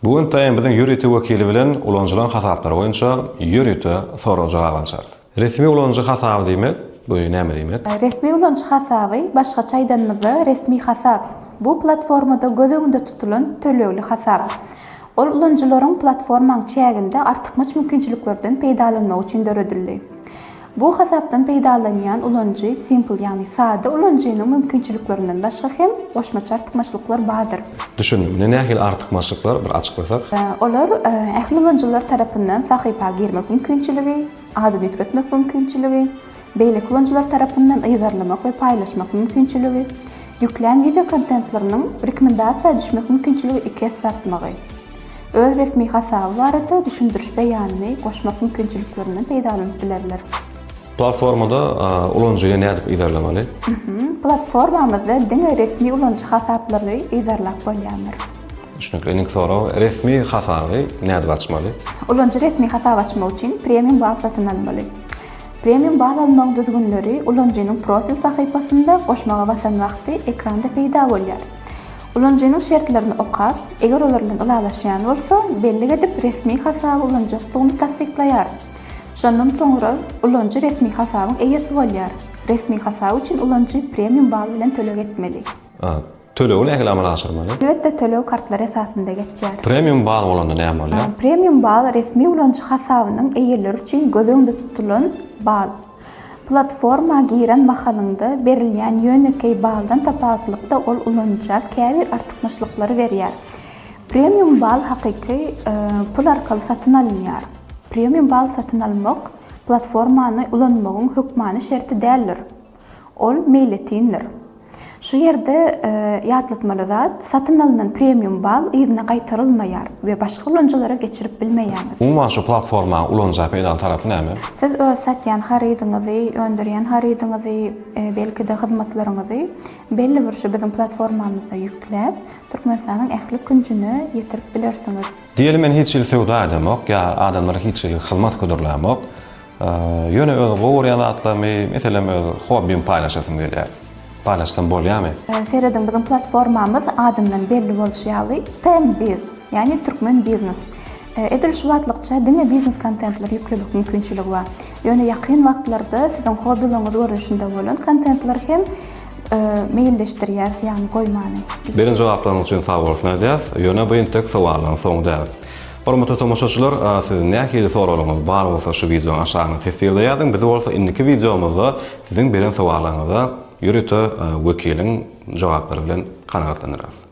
Bu gün taýyn biziň ýörite wekili bilen ulanyjylaryň hasaplary boýunça ýörite sorag-jogap alşarys. Resmi ulanyjy hasaby diýmek, bu näme diýmek? Resmi ulanyjy hasaby, başgaça aýdanymyzda, resmi hasap, bu platformada göz öňünde tutulan tölegli hasap. Ol ulanyjylaryň platformaň çäginde artykmaç mümkinçiliklerden peýdalanmagy üçin döredildi. Bu hasapdan peýdalanýan ulanyjy simple, ýagny sada ulanyjynyň mümkinçiliklerinden başga hem goşmaça artykmaçlyklar bardyr. Düşündim. Ine nähili artykmaçlyklar bir açyklasak. Olar ähli ulanyjylar tarapyndan sahypa girmek mümkinçiligi, adyny üýtgetmek mümkinçiligi, beýleki ulanyjylar tarapyndan yzarlamak we paýlaşmak mümkinçiligi, ýüklän wideokontentleriniň rekomendasiýa düşmek mümkinçiligi iki esse artmagy. öz resmi hasaby barada düşündiriş beýanyny goşmak mümkinçiliklerinden peýdalanyp bilerler. Platformada ulanyjyny nädip yzarlamaly? Platformamyzda diňe resmi ulanyjy hasaplaryny yzarlap bolýandyr. Düşnükli. Indiki sorag, resmi hasaby nädip açmaly? Ulanyjy resmi hasap açmak üçin premium bal satyn almaly. Premium bal almagyň düzgünleri ulanyjynyň profil sahypasynda goşmaga basan wagty ekranda peýda bolýar. Ulanyjynyň şertlerini okap, eger olar bilen ylalaşýan bolsa, bellik edip, resmi hasaby ulanjakdygyny tassyklaýar. Şondan soňra ulanyjy resmi hasabyň eýesi bolýar. Resmi hasap üçin ulanyjy premium bal bilen töleg etmeli. Tölegi nähili amala aşyrmaly? Alwetde töleg kartlar esasynda geçýär. Premium bal bolanda näme bolýar? Premium bal resmi ulanyjy hasabynyň eýeleri üçin göz öňünde tutulan bal. Platforma giren mahalyňda berilýän ýönekeý baldan tapawutlykda ol ulanyja käbir artykmaçlyklary berýär. Premium bal hakyky pul arkaly satyn alynýar. Premium bal satyn almak platformany ulanmagyň hökmany şerti däldir. Ol meýletindir. Şu ýerde ýatlatmaly zat, satyn alnan premium bal yzyna gaýtarylmaýar we başga ulanyjylara geçirip bilmeýäňiz. Umuman şu platformany ulanyja peýdaly tarapy näme? Siz öz satýan harydyňyzy, öndürýän harydyňyzy, belki-de hyzmatlaryňyzy belli bir şu biziň platformamyzda ýükläp, Türkmenistanyň ähli künjüne ýetirip bilersiňiz. Diýeli men hiç hili söwda edemok ýa adamlara hiç hili hyzmat hödürlämok. Ýöne öz gowy görýän zatlarymy, meselem öz hobbimi paýlaşasym gelýär. Paýlaşsam bolýamy? Serediň biziň platformamyz adyndan belli bolşy ýaly TMBiz, ýagny Türkmen Biznes. Edil şu wagtlykça diňe biznes kontentleri ýüklemek mümkinçiligi bar. Ýöne ýakyn wagtlarda siziň hobbilaryňyz görnüşinde bolan kontentleri hem meýilleşdirýäris, ýagny goýmany. Beren jogaplaryňyz üçin sag bolsun aýdýas. Ýöne bu entek sowallaryň soňy däl. Hormatly tomaşaçylar siz nähili soraglaryňyz bar bolsa şu wideonyň aşagyna tessirde ýazyň biz bolsa indiki wideomyzda siziň beren sowallaryňyza ýörite wekiliň jogaplary bilen kanagatlanarys.